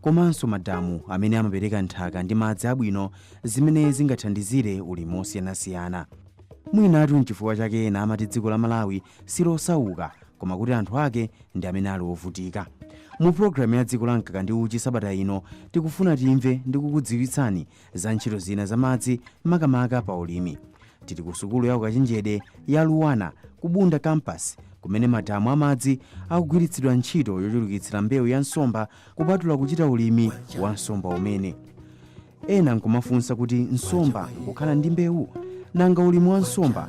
komanso madamu amene amapereka nthaka ndi madzi abwino zimene zingathandizire ulimi wosiyanasiyana. Mwinatu n'chifukwa chake ena amati dziko la Malawi si losauka koma kuti anthu ake ndi amene ali ovutika. Mu pulogalamu ya Dziko la Mkaka ndi Uchi sabata ino, tikufuna timve ndi kukudziwitsani za ntchito zina za madzi makamaka pa ulimi. Tili ku sukulu ya ukachenjede ya LUANAR ku Bunda Campus kumene madamu a madzi akugwiritsidwa ntchito yochulukitsira mbewu ya nsomba kupatula kuchita ulimi wa nsomba umene. Ena nkumafunsa kuti nsomba nkukhala ndi mbewu? Nanga ulimi wa nsomba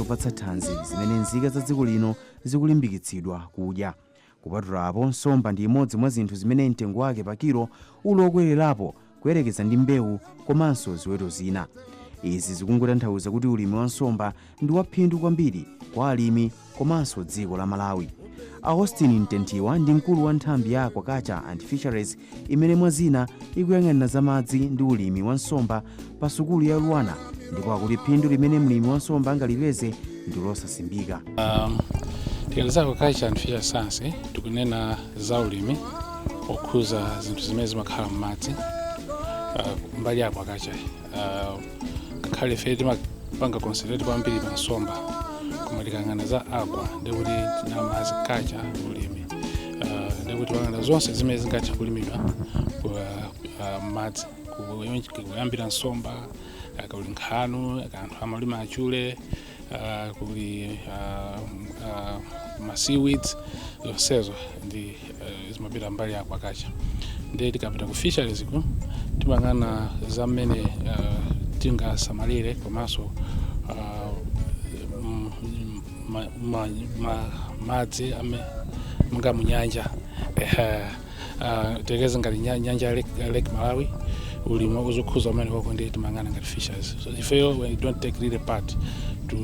zopatsa thanzi zimene nzika za dziko lino zikulimbikitsidwa kudya kupatulapo nsomba ndi imodzi mwa zinthu zimene mtengo wake pa kilo uli okwererapo kuyerekeza ndi mbewu komanso ziweto zina izi zikungotanthauza kuti ulimi wa nsomba ndi waphindu kwambiri kwa alimi komanso dziko la malawi austin mtethiwa ndi mkulu wa nthambi ya aquaculture and fisheries imene mwa zina ikuyang'anira za madzi ndi ulimi wa nsomba pa sukulu ya LUANAR ndipo akuti phindu limene mlimi wa nsomba angalipeze ndi losasimbika Um, tikanena za aquaculture and fisheries science tikunena za ulimi okhudza zinthu zimene zimakhala m'madzi uh, mbali ya aquaculture Ah, ngakhale ife timapanga concentrate kwambiri pa nsomba koma tikayang'ana za aqua ndikuti ndi madzi culture ulimi Ah, ndikuti tikuyang'ana zonse zimene zingathe kulimidwa ku- ah, m'madzi Ku- kuyambira nsomba kuli nkhanu anthu amalima achule uh, kuli uh, uh, ma seaweeds zonsezo ndi uh, zimapita mbali ya aquaculture ndi tikapita ku fisheries ku timayang'ana za mmene uh, tingasamalire komanso uh, m- m- ma- ma- ma- madzi amene monga munyanja Ehe. Ah, tiyerekeze ngati nya- nyanja ya lake, ya lake malawi ulimi uzikhudza kumene koko ndi timayang'ana ngati fisheries so ifeyo we don't take really part to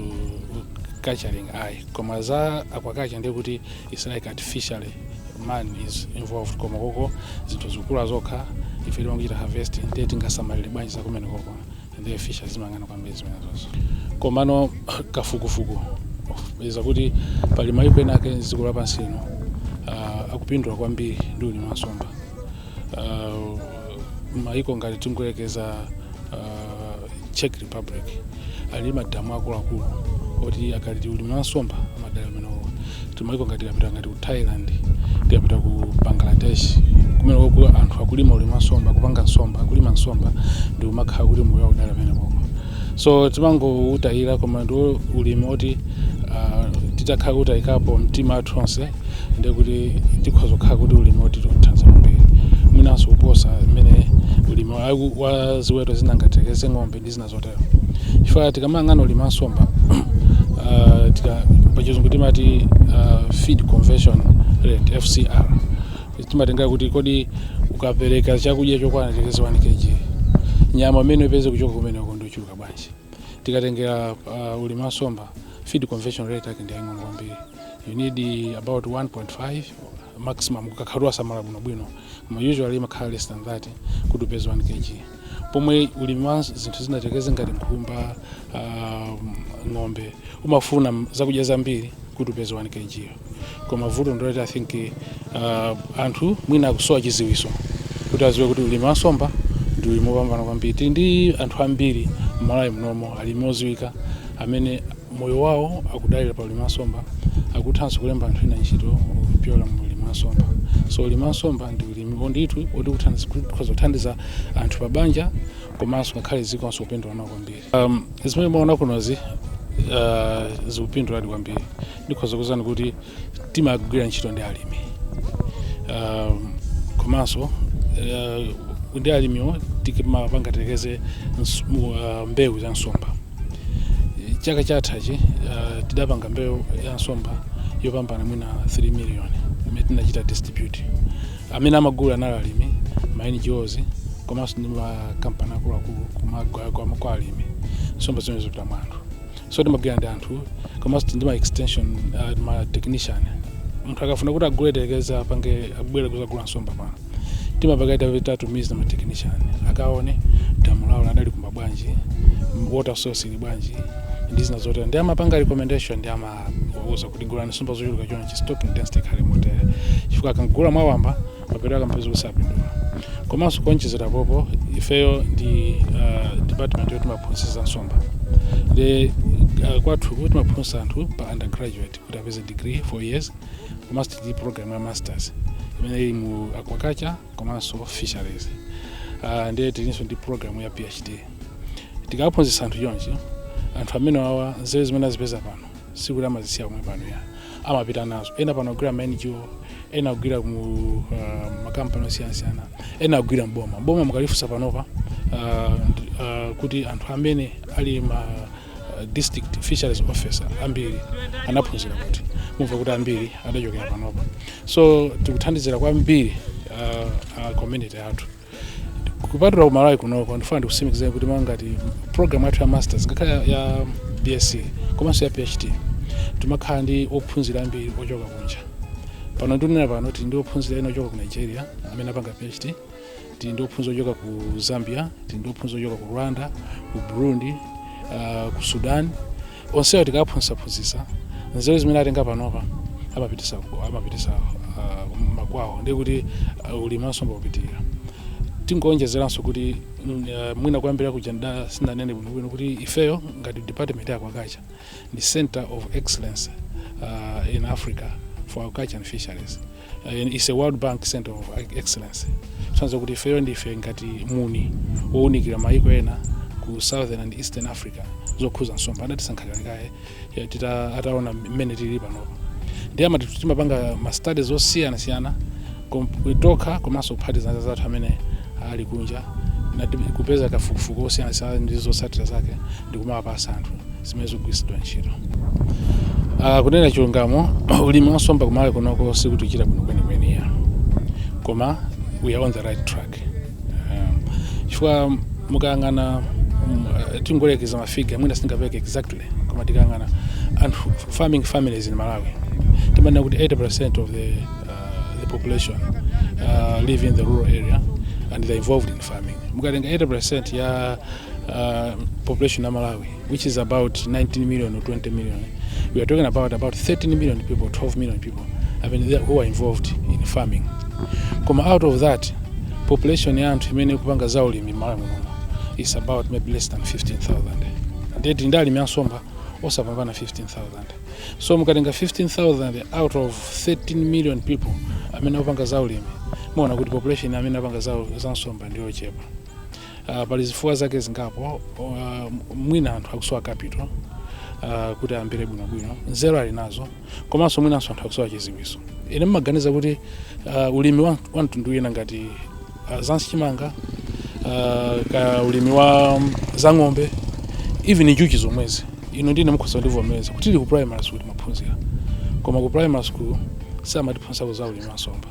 culturing ayi koma za aquaculture ndiye kuti its like artificially man is involved koma koko zinthu zikukula zokha ife timangochita harvest ndiye tingasamalire bwanji zakumene koko ndiye fisheries imayang'ana kwambiri zimenezo komano kafukufuku iza kuti pali mayiko ena ake dziko lapansi ino uh, akupindula kwambiri ndi ulimi wa nsomba uh, mayiko ngati tingoyerekeza uh, czech republic ali madamu akuluakulu oti akati ulimi wa nsomba amadalira amenewo timayiko ngati tikapita ngati ku thailand tikapita ku bangladesh kumene koku anthu akulima ulimi wa nsomba kupanga nsomba akulima nsomba ndi kumakhala kuti moyo wawo udalira kumeneko so timangoutayira koma ndi ulimi oti ah, titakhala kutayikapo mtima wathu onse ndi kuti tikhoza kukhala kuti ulimi otithandiza kwambiri mwinanso kuposa mmene ulimi wa- wa ziweto zina ngati tikeze ng'ombe ndi zina zotero chifukwa tikamayang'ana ulimi wa nsomba uh, tika- pachizungu timati uh, feed conversion rate fcr timatengera kuti kodi ukapereka chakudya chokwana tikeze 1 kg nyama imene upeze kuchoka kumeneko ndiochuluka bwanji tikatengera uh, ulimi wa nsomba feed conversion rate yake ndi yaying'ono kwambiri you need uh, about 1.5 maximum ukakhala wasamala bwinobwino koma usually imakhala less than that kuti upeze 1 kg pomwe ulimi wa zinthu zina tikeze ngati nkhumba ah, ng'ombe umafuna m- zakudya zambiri kuti upeze 1 kg yo. koma vuto ndi loti i think ah, anthu mwina akusowa chiziwiso kuti aziwe kuti ulimi wa nsomba ndi ulimi wopambana kwambiri tili ndi anthu ambiri mmalawi munomo alimi oziwika amene moyo wawo akudalira pa ulimi wa nsomba akuthanso kulemba anthu ena ntchito kupyola mu ulimi wa nsomba so ulimi wa nsomba ndi ulimi o nditu woti kuthandiza- ukhoza kuthandiza anthu pa banja komanso ngakhale dzikonso kupindula nawo kwambiri um, zimene mwaona kunozi uh, zikupinduladi kwambiri ndikhoza kuuzani kuti timagwira ntchito ndi alimi um, komanso uh, ndi alimiwo timapanga tikeze mbewu za nsomba chaka chathachi uh, tidapanga mbewu ya nsomba yopambana mwina 3 million imene tinachita distribute amene amagula anali alimi ma NGOs komanso ndi makampani akuluakulu kumagawa kwa kwa alimi nsomba zimene zopita mwa anthu so timagwira ndi anthu komanso ndi ma extension uh, ma technician munthu akafuna kuti agule telekeza apange abwere kuzagula nsomba pano timakaika kaye tatumiza ma technician akaone damu lawo adalikumba bwanji water source ili bwanji ndi zina zotero ndi amapanga recommendation ndi amauza kuti gulani nsomba zochuluka chonchi stocking density ikhale motere chifukwa akagula mwawamba mapeto ake mpeza kuti sapindula komanso kuonjezera apo ifeyo ndi uh, department yoti timaphunzitsa nsomba ndi uh, kwathu timaphunzitsa anthu pa undergraduate kuti apeze degree 4 years komanso ndi program ya masters imene ili mu aquaculture komanso fisheries uh, ndiye tilinso ndi program ya phd tikaphunzitsa anthu chonchi anthu amene awa nzeru zimene azipeza pano sikuti amazisiya pomwe pano ayi amapita nazo ena pano agwira ma ngo ena agwira mu uh, makampani osiyanasiyana ena agwira mboma mboma mukalifunsa panopa uh, uh, kuti anthu amene ali ma uh, district fisheries officer ambiri anaphunzira kuti mumva kuti ambiri adachokera panopa so tikuthandizira kwambiri uh, uh, community athu kupatula kumalawi kunoko ndifuna ndikusimikizireni kuti monga ngati program yathu ya masters ngakhale ya- ya bsc komanso ya phd timakhala ndi ophunzira ambiri ochoka kunja pano ndinena pano tili ndi ophunzira ena ochoka ku nigeria amene akupanga phd tili ndi ophunzira ochoka ku zambia tili ndi ophunzira ochoka ku rwanda ku burundi uh, ku sudan onsewo tikaphunzitsaphunzitsa nzeru zimene atenga panopa amapitisa amapitisa uh, makwawo ndiye kuti uh, ulimi wansomba ukupitirira tingoonjezeranso kuti mm, uh, mwina kuyambira kuja nda sindinanene bwinobwino kuti ifeyo ngati department ya aquaculture ndi center of excellence uh, in africa for aquaculture and fisheries and it's a World Bank Center of Excellence kusonyeza kuti ifeyo ndife ngati muni wowunikira mayiko ena ku southern and eastern africa zokhuza nsomba adatisankha kale kale ataona mmene tili panopa ndiye amati timapanga ma studies osiyanasiyana kom- tokha komanso kuphatikiza anzathu amene ali kunja na tim- kupeza kafukufuku osiyanasiyana ndi zotsatira zake ndi kumawapatsa anthu zimene zikugwiritsidwa ntchito uh, kunena chilungamo ulimi wansomba kumalawi kunoko sitikuchita bwino kwenikweni ya koma we are on the right track um, chifukwa mukayang'ana um, uh, tingoyerekeza mafiga mwina sindingapereke exactly koma tikayang'ana anthu farming families in malawi timanena kuti 80% of the, uh, the population uh, live in the rural area and they're involved in farming mukatenga 80% ya uh, population of Malawi, which is about 19 million or 20 million, we are talking about about 13 million people, 12 million people I mean, they- who are involved in farming. Koma out of that, population ya anthu imene ikupanga za ulimi Malawi muno is about maybe less than 15,000. Ndiye tili ndi alimi ansomba osapambana 15,000. So mukatenga 15,000 out of 13 million people amene akupanga za ulimi, muona kuti population amene akupanga za, za nsomba ndiyochepa. Uh, pali zifukwa zake zingapo. Uh, mwina anthu akusowa capital uh, kuti ayambire bwinobwino, nzeru ali nazo, komanso mwinanso anthu akusowa chidziwitso. Ine ndimaganiza kuti uh, ulimi wa, wa mtundu wina ngati uh, za chimanga uh, ka ulimi wa um, za ng'ombe even njuchi zomwezi inu ndi ine mukhoza kundivomereza kuti tili ku primary school timaphunzira koma ku primary school samatiphunzitsako za ulimi wa nsomba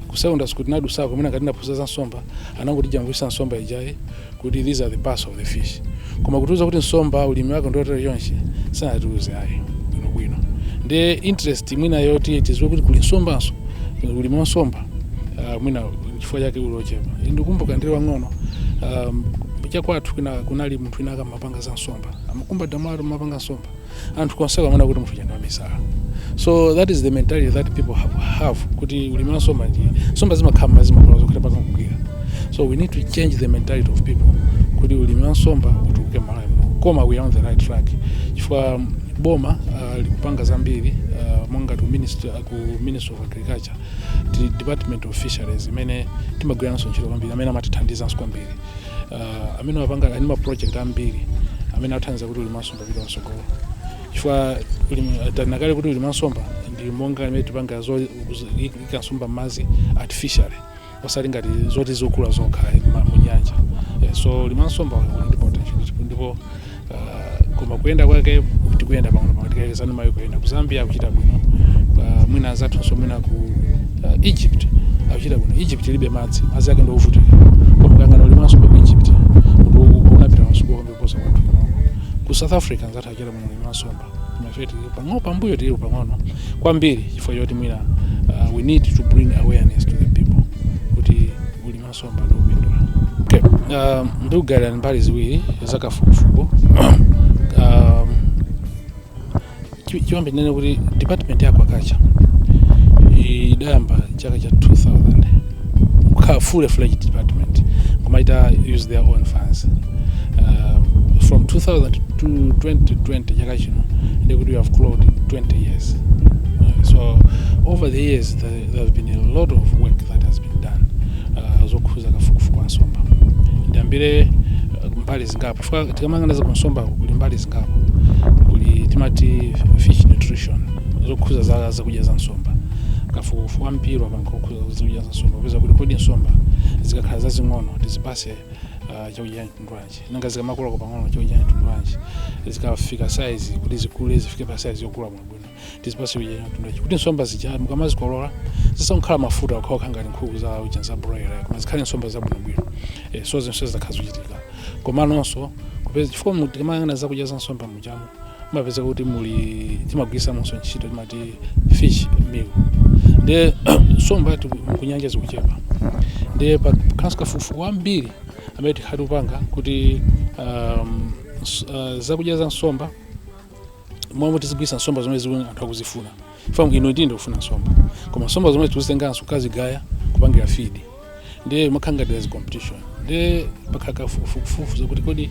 ku secondary school tinadusako komwe ngati ndinaphunzira za nsomba anangoti jambulitsa nsomba ijayi kuti these are the parts of the fish koma kutiuza kuti nsomba ulimi wake ndiotero chonchi sanatiuze ayi bwinobwino ndi interest mwina yoti tiziwe kuti kuli nsombanso ulimi wa nsomba uh, mwina chifukwa chake uli ochepa ndikumbuka ndili wang'ono um, chakwathu kuna- kunali munthu wina ankapanga za nsomba amakumba madamu n'kumapanga nsomba anthu konseko amaona kuti munthu uja ndi wamisala so that is the mentality that people have, have kuti ulimi wa nsomba ndi nsomba zimakhala m'madzi zimakula zokha mpaka kugwira so we need to change the mentality of people kuti ulimi wa nsomba utukuke malawi muno koma we are on the right track chifukwa boma uh, likupanga zambiri uh, monga ku ministry, uh, ku ministry of agriculture department of fisheries imene timagwira nayo ntchito kwambiri amene amatithandizanso kwambiri uh, amene amapanga ndi ma project ambiri amene athandiza kuti ulimi wa nsomba upite patsogolo chifukwa ulimi- tanakale kuti ulimi wa nsomba ndi monga imene tipanga zo- zo- ika nsomba m'madzi artificially osati ngati zoti zikukula zokha ma- mu nyanja Eh, so ulimi wa nsomba uli ndi potential ndipo- ndipo ah, koma kuyenda kwake tikuyenda pang'ono pang'ono tikayerekeza ndi mayiko ena ku zambia akuchita bwino Ah, mwina anzathunso mwina ku ah, egypt akuchita bwino egypt ilibe madzi madzi ake ndi ovutika koma kayang'ana ulimi wa nsomba ku egypt kuposa kwathu pang'ono ku south africa nzathu achita bwino ulimi wa nsomba ife tili pang'ono pambuyo tili pang'ono kwambiri chifukwa choti mwina uh, we need to bring awareness to the people kuti ulimi wa nsomba ndi wopindula okay. um, ndikugawirani mbali ziwiri zakafukufuku um, Chi- chiyambi tinene kuti department ya aquaculture idayamba chaka cha 2000 kukhala fully fledged department kumachita use their own funds uh, from 2000 to 2020 chaka chino ndikuti we have clocked 20 years Uh, so over the years there, there have been a lot of work that has been done uh, zokhuza kafukufuku wa nsomba ndiyambire uh, mbali zingapo chifukwa tikamayang'ana za kunsombako kuli mbali zingapo kuli timati fish nutrition zokhuza za zakudya za nsomba kafukufuku wambiri wapangidwa okhuza zakudya za nsomba kupeza kuti kodi nsomba zikakhala zazing'ono tizipase uh, chakudya mtundu wanji nanga zikamakulako pang'ono chakudya mtundu wanji zikafika saizi kuti zikule zifike pa saizi yokula bwinobwino tizipase chakudya mtundu wanji kuti nsomba zija mukamazikolola zisakhale mafuta okhaokha ngati nkhuku za uja za broiler koma zikhale nsomba zabwinobwino eh, so zonse zakhala zikuchitika komanonso kupeza chifukwa mu- tikamayang'ana zakudya za nsomba mujamo mumapeza kuti muli timagwirisamonso ntchito timati fish meal ndiye nsomba tu- kunyanja zikuchepa ndiye pakhalanso kafukufuku wambiri amene takhala tikupanga kuti um, s- uh, zakudya za nsomba zomwe tikugwiritsa nsomba zomwe zili zoti anthu akuzifuna ifeyo inu ndi ine tikufuna nsomba koma nsomba zomwezo tikuzitenganso kukazigaya kupangira feed ndiye mumakhala ngati there's competition ndiye pakhala kafukufuku wakuti kodi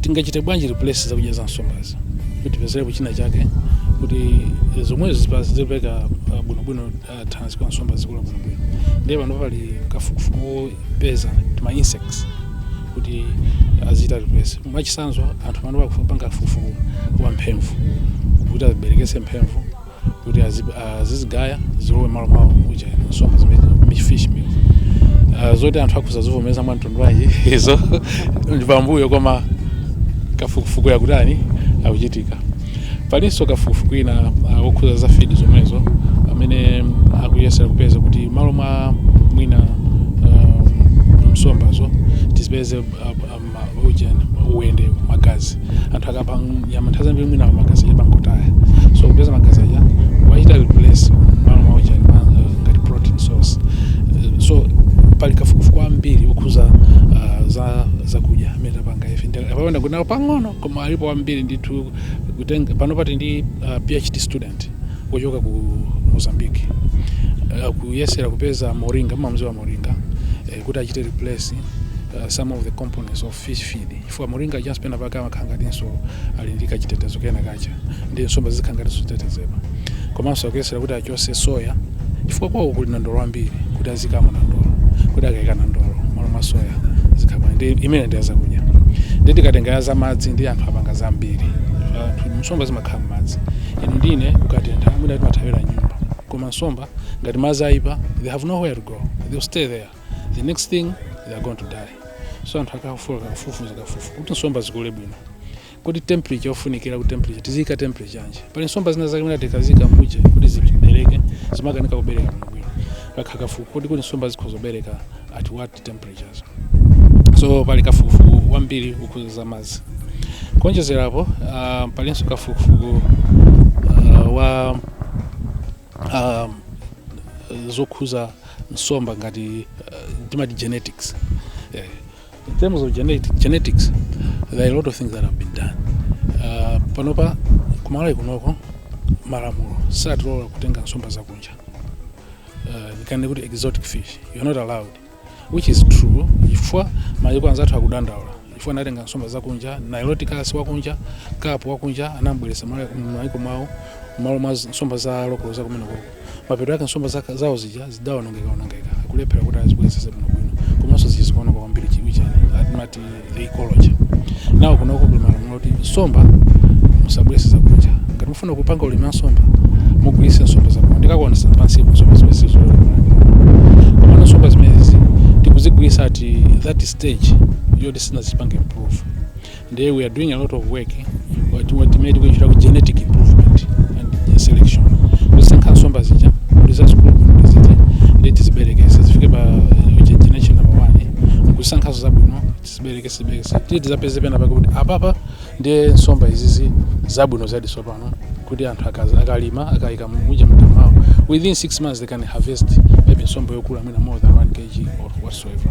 tingachite bwanji replace zakudya za nsombazi kuti tipezerepo china chake kuti zomwezo zipe- zipereka uh, bwinobwino thanzi kwa nsomba zikula bwinobwino ndiye pano pali kafukufuku wopeza tima insects kuti azichita replace mwachitsanzo anthu panopa akupanga kafukufuku wa mphemvu kuti aziberekesa mphemvu kuti azi- azizigaya zilowe malo mwa zija nsomba zimene mu fish meal Ah, zoti anthu akhoza kuzivomereza mwa mtundu wanji izo ndi pambuyo koma kafukufuku akutani akuchitika Palinso kafukufuku wina uh, wokhuza za feed zomwezo amene akuyesera kupeza kuti mmalo mwa mwina um, nsombazo tizipeze uh, ujeni uwende magazi anthu akapha nyama nthawi zambiri mwina magazi amangotaya so kupeza magazi aja achite replace mmalo mwa ujeni uh, ngati protein source uh, so pali kafukufuku ambiri okhuza uh, za zakudya amene tapanga ife ndaperekako kunoko pang'ono koma alipo ambiri ndithu kutenga panopa tili ndi uh, phd student wochoka ku mozambique uh, akuyesera kupeza moringa mumamudziwa moringa eh, kuti achite replace uh, some of the components of fish feed chifukwa moringa just pena pake amakhala ngatinso ali ndi kachitetezo kena kake ndiye nsomba zikhala ngatinso zitetezedwa komanso akuyesera kuti acho- tse soya chifukwa kwawo kuli nandolo wambiri kuti aziikamo nandolo kuti akaika nandolo malo mwa soya zikhala bwanji imeneyo ndi yazakudya ndiye tikatenga ya zamadzi ndi anthu apanga zambiri Anthu- nsomba zimakhala mmadzi inu ndi ine kukatentha mwina timathawira mnyumba koma nsomba ngati madzi ayipa they have nowhere to go they'll stay there the next thing they are going to die so anthu akafufuza kafufu kuti nsomba zikule bwino kodi temperature yofunikira ku temperature tiziyika temperature yanji pali nsomba zina zake mwina tikaziika mu cage kuti zibereke zimakanika kubereka bwino pakhala kafukufuku kodi kuti nsomba zikhoza kubereka at what temperatures so pali kafukufuku wambiri wokhuza za madzi kuonjezerapo uh, palinso kafukufuku uh, wa uh, zokhuza nsomba ngati uh, timati genetics eh, In terms of genetic, genetics, there are a lot of things that have been done. Uh, panopa kumalawi kunoko malamulo satilola kutenga nsomba zakunja uh, ndikanena kuti exotic fish you're not allowed which is true chifukwa mayiko anzathu akudandaula chifukwa anatenga nsomba zakunja niloticus wakunja kapu wakunja anamubweretsa mmayiko mwawo mmalo mwa nsomba za lokolo zakumeneko mapeto ake nsomba zaka- zawo zija zidaonongekaonongeka kulephera kuti azibwezeze bwinobwino komanso zija zikuoneka kwambiri chija chimene timati the ecology nawo kunoko kuli malamulo kuti nsomba musabwerese zakunja ngati mufuna kupanga ulimi wa nsomba mugwiritse nsomba zakuno ndikakuonesa pansipo nsomba zimene sitikulolera komano nsomba zimenezi tikuzigwiritsa at that stage yoti sinazipange improve Ndiye we are doing a lot of work what what made we should have genetic improvement and selection. Kusankha nsomba zija kuti zazikulu bwino zija nde tiziberekese zifike pa eh, ge- generation number one kusankhazo zabwino tiziberekese tiziberekese tiye tizapeze pena pake kuti apapa ndiye nsomba izizi zabwino zadi tsopano kuti anthu akazi- akalima akayika muja mmadamu mwao within six months they can harvest maybe nsomba yokula mwina more than 1 kg or whatsoever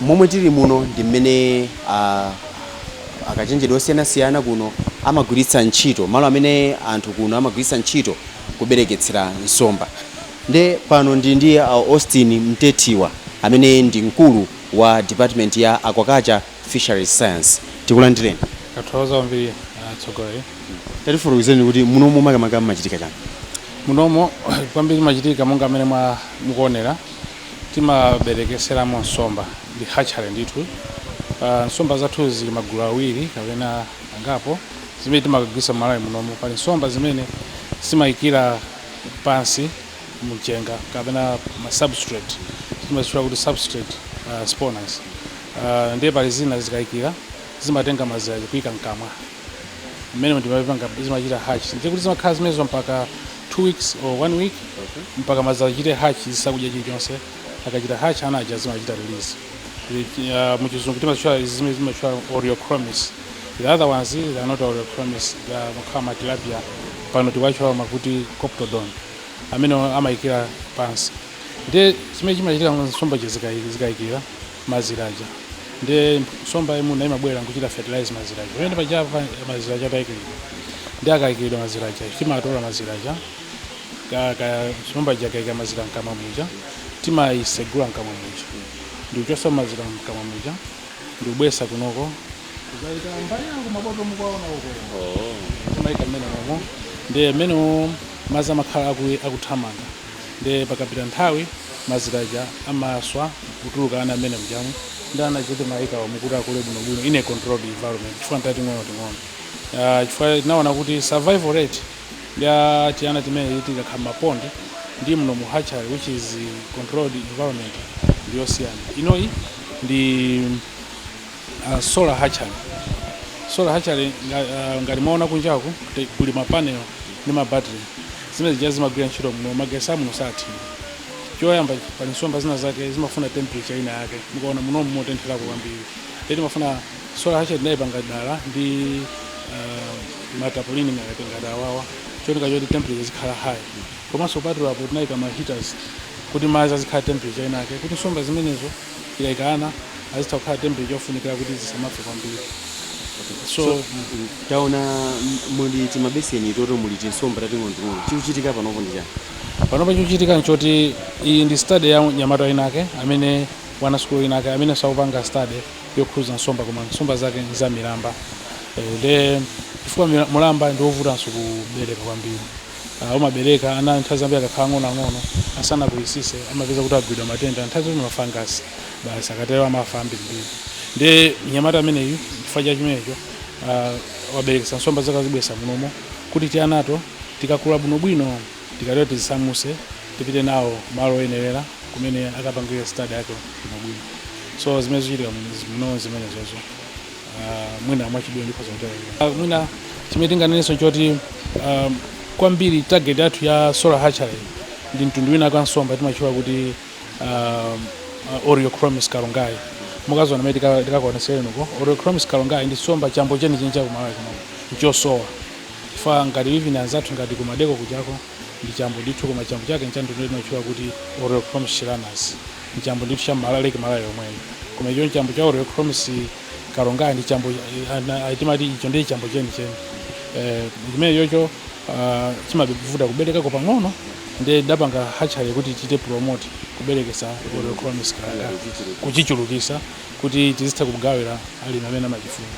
Momwe tili muno ndi mmene akachenjede osiyanasiyana kuno amagwiritsa ntchito malo amene anthu kuno amagwiritsa ntchito kubereketsera nsomba nde pano ndili ndi a Austin Mtethiwa amene ndi mkulu wa department ya Aquaculture and Fisheries Science. Tikulandireni. Tathokoza kwambiri atsogoleri. Tatifotokozereni kuti munomo makamaka mumachitika chani? Munomo kwambiri chimachitika monga mmene mwa mukuonera Timaberekeseramo nsomba ndi hatchery ndithu. Uh, nsomba zathu zili magulu awiri kapena angapo zimene timakagwiritsa mu Malawi munomu. Pali nsomba zimene zimayikira pansi mumchenga kapena ma substrate timazitchula kuti substrate uh, spawners uh, ndiye pali zina zikayikira zimatenga mazira kuika mkamwa mmene zimapanga zimachita hatch ndiye kuti zimakhala zimenezo mpaka 2 weeks or 1 week mpaka mazira achite hatch zisakudya chilichonse akachita hatch ana aja zimachita release Ri- ah, muchizungu timatchula izi zimene zimatchulidwa oreochromis the other ones they are not oreochromis they are makhala matilapia pano tikuwatchula akuti coptodon amene amayikira pansi ndiye chimene chimachitika nsomba zija zikayikira mazira aja nde nsomba yayimuna imabwera nkuchita fertilize mazira aja pamene paja pa mazira aja atayikiridwa ndiye akayikiridwa mazira aja timatola mazira aja ka- ka- nsomba ija ikayika mazira mkamwa muja timayisegula mkamwa muja ndikuchosa mazira mkamwa muja ndikubweresa kunoko kuzayika mbali ya uko mabotolo mukuwaona uko timayika mmene momo ndiye mmene mazi amakhala aku- akuthamanga Ndiye pakapita nthawi mazira aja amaswa kutuluka ana mmenemujamo ndiye ana aja timayikano umu kuti akule bwinobwino in a controlled environment chifukwa ntating'onoting'ono Ah, chifukwa tinaona kuti survival rate ya tiana timeneti tikakhala m'mapondi ndi mno mu hatchery which is controlled environment ndiyosiyana inoyi ndi Uh, solar hatchery solar hatchery uh, ngati mwaona kunjaku kuli mapanel ndi mabattery zimene zija zimagwira ntchito muno magesi amuno sathima choyamba pali nsomba zina zake zimafuna temperature ina yake mukaona muno motentherako kwambiri ndiye timafuna solar hatchery tinayipanga dala ndi uh, matapolini ngati ngati awawa cholinga choti temperature izikhala high komanso patulapo tinayika ma heaters kuti madzi azikhala temperature inake kuti nsomba zimenezo zikaika ana azitha kukhala temperature yofunikira kuti zisamafe kwambiri so So- mm, taona m- muli timabeseni toto muli tinsomba tating'onoting'ono chikuchitika panopo ndi chani panopa chikuchitika nchoti iyi ndi study ya mnyamata winake amene mwana wasukulu winake amene akupanga study yokhuza nsomba koma nsomba zake ndi za milamba Eh, nde chifukwa mila- mulamba ndi wovutanso kubereka kwambiri uh, umabereka ana nthawi zambiri akakhala ang'onoang'ono asanakulisise amapeza kuti agwidwa matenda nthawi zoti mafangasi basi akatero amafa ambirimbiri ndiye mnyamata ameneyu chifukwa cha chimenecho uh, waberekesa nsomba zake wazibwesa munomo kuti tianato tikakule bwinobwino tikatero tizisamuse tipite nawo malo oyenerera kumene akapangire study yake bwinobwino so zimene zikuchitika muno zimenezozo ah, mwina mwachidule ndikhoza kutero Ah, mwina chimene tinganenenso nchoti um, kwambiri target yathu ya solar hatchery ndi mtundu wina wa nsomba timatchula kuti um, uh, oreochromis karongae mukaziona mene tikakuoneseni uko oreochromis karongae ndi nsomba chambo chenicheni cha ku Malawi kuno nchosowa chifukwa ngati even anzathu ngati ku Maldeco kujako ndi chambo ndithu koma chambo chake nchamtundu timatchula kuti oreochromis shiranus nchambo ndithu cha mala Lake Malawi yomweyo koma icho nchambo cha oreochromis karongae ndi chambo ana- ah, timati icho ndi chambo cheni cheni eh chimenechocho ah, chimavuta kuberekako pang'ono ndiye tidapanga hatchery kuti tichite promote kuberekesa oreochromis karongae kuchichulukisa kuti tizitha kugawira alimi amene amachifuna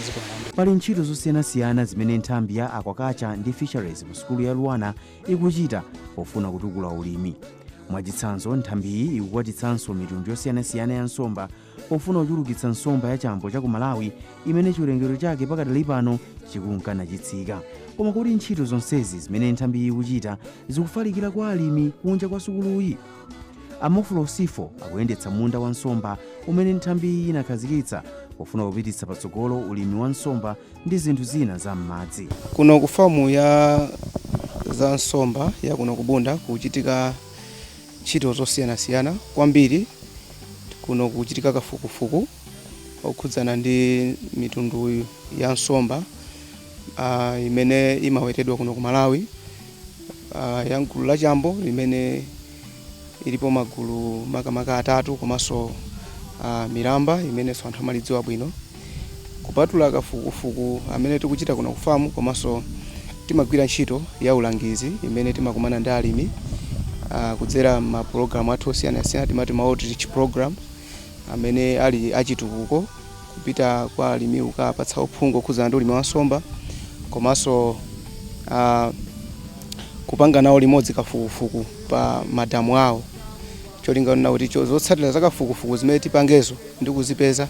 zikomo pali ntchito zosiyanasiyana zimene nthambi ya aquaculture ndi fisheries mu sukulu ya Luanar ikuchita pofuna kutukula ulimi. Mwachitsanzo, nthambi iyi ikukwatitsanso mitundu yosiyanasiyana ya nsomba pofuna kuchulukitsa nsomba ya chambo cha ku Malawi imene chiwerengero chake pakadali pano chikunka nachitsika. Koma kodi ntchito zonsezi zimene nthambi iyi ikuchita zikufalikira kwa alimi kunja kwa sukuluyi? A Mofolo Sifo akuyendetsa munda wa nsomba umene nthambi iyi inakhazikitsa pofuna kupititsa patsogolo ulimi wa nsomba ndi zinthu zina za m'madzi. Kuno ku famu ya za nsomba ya kuno ku Bunda kuchitika ntchito zosiyanasiyana kwambiri kuno kuchitika kafukufuku okhudzana ndi mitundu ya nsomba ah, imene imawetedwa kuno ku Malawi ah, ya mgulu la chambo imene ilipo magulu makamaka atatu komanso uh, milamba amenenso anthu amalidziwa bwino kupatula kafukufuku amene tikuchita kuno kufamu komanso timagwira ntchito ya ulangizi imene timakumana ndi alimi uh, kudzera mapulogalamu athu osiyanasiyana timati ma outreach program amene ali a chitukuko kupita kwa alimi kukapatsa uphungu okhudzana ndi ulimi wa nsomba komanso uh, kupanga nawo limodzi kafukufuku pa madamu awo cholinga n'nakuti zotsatira za kafukufuku zimene tipangezo ndi kuzipeza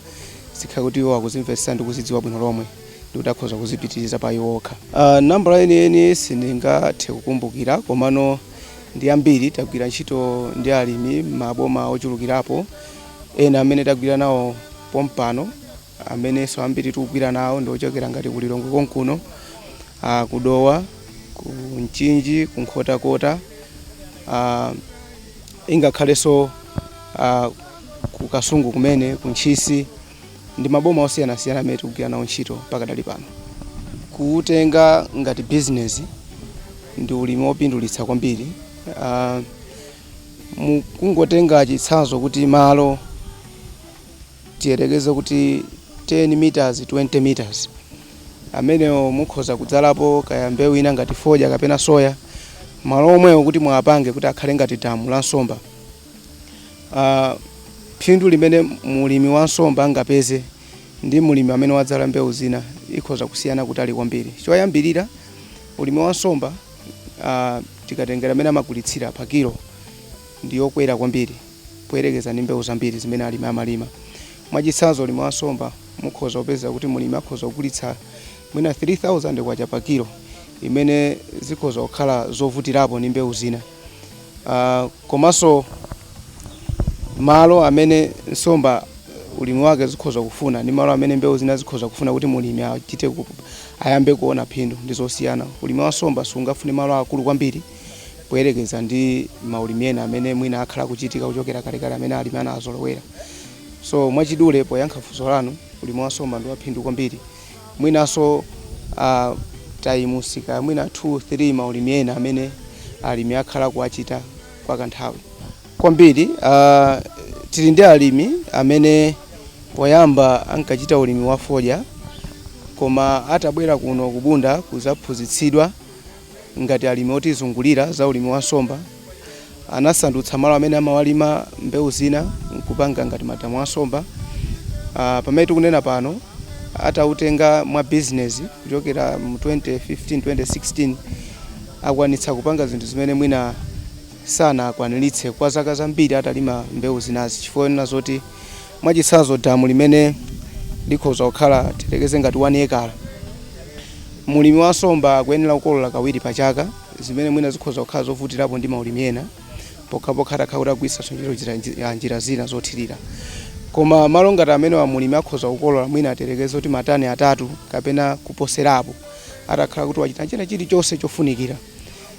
zikhale kuti iwo akuzimvetsa ndi kuzidziwa bwino lomwe ndikuti akhoza kuzipitiriza pa iwo okha uh, ah, nambala yeniyeni sindingathe kukumbukira komano ndi ambiri tagwira ntchito ndi alimi maboma ochulukirapo ena amene tagwira nawo pompano amenenso ambiri tikugwira nawo ndi ochokera ngati ku Lilongwe konkuno ah, ku Dowa ku Mchinji ku Nkhotakota ah, ingakhalenso ah, ku Kasungu kumene ku Ntchisi ndi maboma osiyanasiyana amene tikugwira nawo ntchito pakadali pano kuutenga ngati bizinesi ndi ulimi wopindulitsa kwambiri Ah, mukangotenga chitsanzo kuti malo tiyerekeze kuti 10 meters 20 meters amenewo mukhoza kudzalapo kaya mbewu ina ngati fodya kapena soya malo omwewo kuti muwapange kuti akhale ngati damu la nsomba Ah, phindu limene mulimi wa nsomba angapeze ndi mulimi amene wadzala mbewu zina ikhoza kusiyana kutali kwambiri choyambirira ulimi wa nsomba uh, tikatengera mmene amagulitsira pa kilo ndi yokwera kwambiri poyerekeza ndi mbewu zambiri zimene alimi amalima mwachitsanzo ulimi wa nsomba mukhoza kupeza kuti mulimi akhoza kugulitsa mwina 3000 kwacha pa kilo imene zikhoza kukhala zovutirapo ndi mbewu zina uh, komanso malo amene nsomba ulimi wake zikhoza kufuna ndi malo amene mbewu zina zikhoza kufuna kuti mulimi achite ku- ayambe kuona phindu ndi zosiyana ulimi wa nsomba sungafune malo akulu kwambiri poyerekeza ndi maulimi ena amene mwina akhala akuchitika kuchokera kalekale amene alimi anazolowera so mwachidule poyankha funso lanu ulimi wa nsomba ndi waphindu kwambiri mwinanso a times ka mwina 2 3 maulimi ena amene alimi akhala akuwachita kwa kanthawi kwambiri. Uh, tili ndi alimi amene poyamba ankachita ulimi wa fodya koma atabwera kuno ku Bunda kuzaphunzitsidwa ngati alimi otizungulira za ulimi wa nsomba anasandutsa malo amene amalima mbewu zina nkupanga ngati madamu a nsomba. Ah, pamene tikunena pano atautenga mwa business kuchokera mu 2015 2016 akwanitsa kupanga zinthu zimene mwina sanakwaniritse kwa zaka zambiri atalima mbewu zinazi chifukwa yonena zoti Mwachitsanzo damu limene likhoza kukhala tiyerekeze ngati 1 ekala, mlimi wa nsomba akuyenera kukolola kawiri pa chaka zimene mwina zikhoza kukhala zovutirapo ndi maulimi ena pokhapokha atakhala kuti akugwiritsanso ntchito njira, njira, njira zina zothirira. Koma malo ngati amenewa mlimi akhoza kukolola mwina tiyerekeze kuti matani atatu kapena kuposerapo atakhala kuti wachita china chilichonse chofunikira.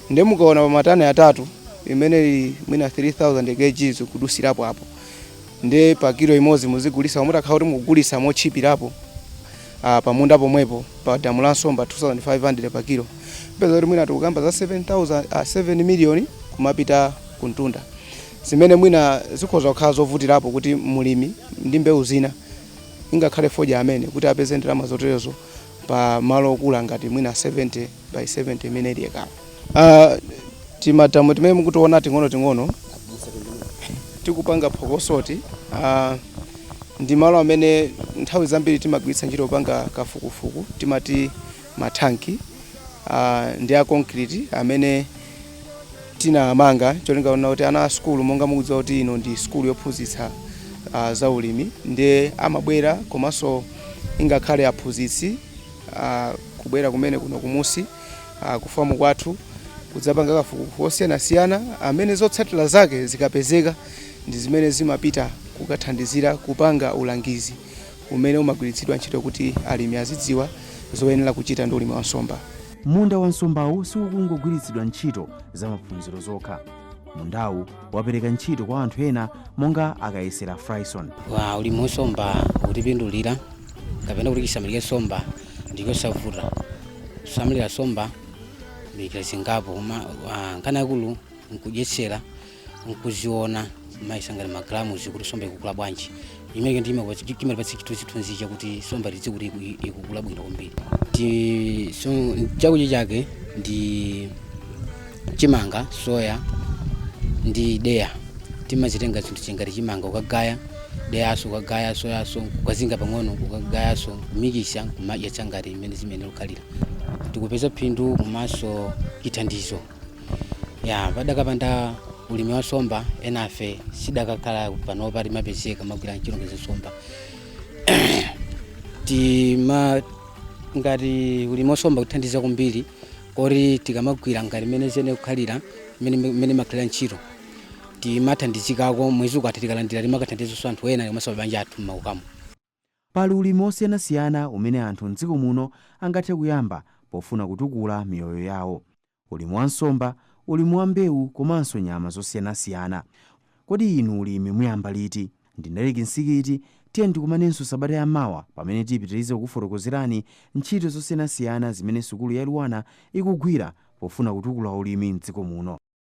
Ndiye mukaona pa matani atatu imene ili mwina 3000 kgs kudutsirapo apo. ndiye pa kilo imodzi muzigulitsa koma mutakhala kuti mukugulitsa motchipirapo ah, pa munda pomwepo pa damu la nsomba 2500 pa kilo mupeza kuti mwina tikukamba za 7000 ah, 7 million kumapita kumtunda zimene mwina zikhoza kukhala zovutirapo kuti mulimi ndi mbewu zina ingakhale fodya amene kuti apeze ndalama zoterezo pa malo okula ngati mwina 70 by 70 imene ili ekala. Uh, timadamu timene mukutiona ting'onoting'ono tikupanga phokosoti uh, ndi malo amene nthawi zambiri timagwiritsa ntchito kupanga kafukufuku timati mathanki uh, ndi a concrete amene tinamanga cholinga chonena kuti ana a sukulu monga mukudziwa kuti ino ndi sukulu yophunzitsa uh, za ulimi ndiye amabwera komanso ingakhale aphunzitsi uh, kubwera kumene kuno kumunsi uh, kufamu kwathu kudzapanga kafukufuku wosiyanasiyana amene zotsatira zake zikapezeka ndi zimene zimapita kukathandizira kupanga ulangizi umene umagwiritsidwa ntchito kuti alimi azidziwa zoyenera kuchita ndi ulimi wa nsomba. Munda wa nsombawu siukungogwiritsidwa ntchito za maphunziro zokha. Mundawu wapereka ntchito kwa anthu ena monga akayesera Fryson. ulimi wa somba ukutipindulira kapena kuti chisamaliro cha somba ndikosavuta kusamalira somba njira zingapo koma ah, nkhani yakulu nkudyetsera nkuziona maesa ngati magalamuzi kuti somba ikukula bwanji imene imatipatsa chithunzithunzi chakuti somba tidzi kuti iku- ikukula bwino kwambiri Ti- so, chakudya chake ndi chimanga soya ndi deya timazitenga zinthu ngati chimanga ukagaya deyaso ukagaya soyaso kukazinga pang'ono ukagayaso kumikisa kumadyetsa ngati imene zimene ukhalira tikupeza phindu komanso chithandizo ya padakapanda ulimi wa nsomba enafe sitidakakhala panopa timapezeka tikugwira ntchito ngati za nsomba ngati ulimi wa nsomba kutithandiza kwambiri koti tikamagwira ngati mmene zene kukhalira mmene imakhalira ntchito timathandizikako mwezi ukatha tikalandira timakathandizanso anthu ena komanso mabanja athu m'makomo Pali ulimi wosiyanasiyana umene anthu m'dziko muno angathe kuyamba pofuna kutukula miyoyo yawo. Ulimi wa nsomba, ulimi wa mbewu komanso nyama zosiyanasiyana. Kodi inu ulimi muyamba liti? Ndine Eric Msikiti, tiyeni tikumanenso sabata ya mawa pamene tipitirize kukufotokozerani ntchito zosiyanasiyana zimene sukulu ya LUANAR ikugwira pofuna kutukula ulimi m'dziko muno.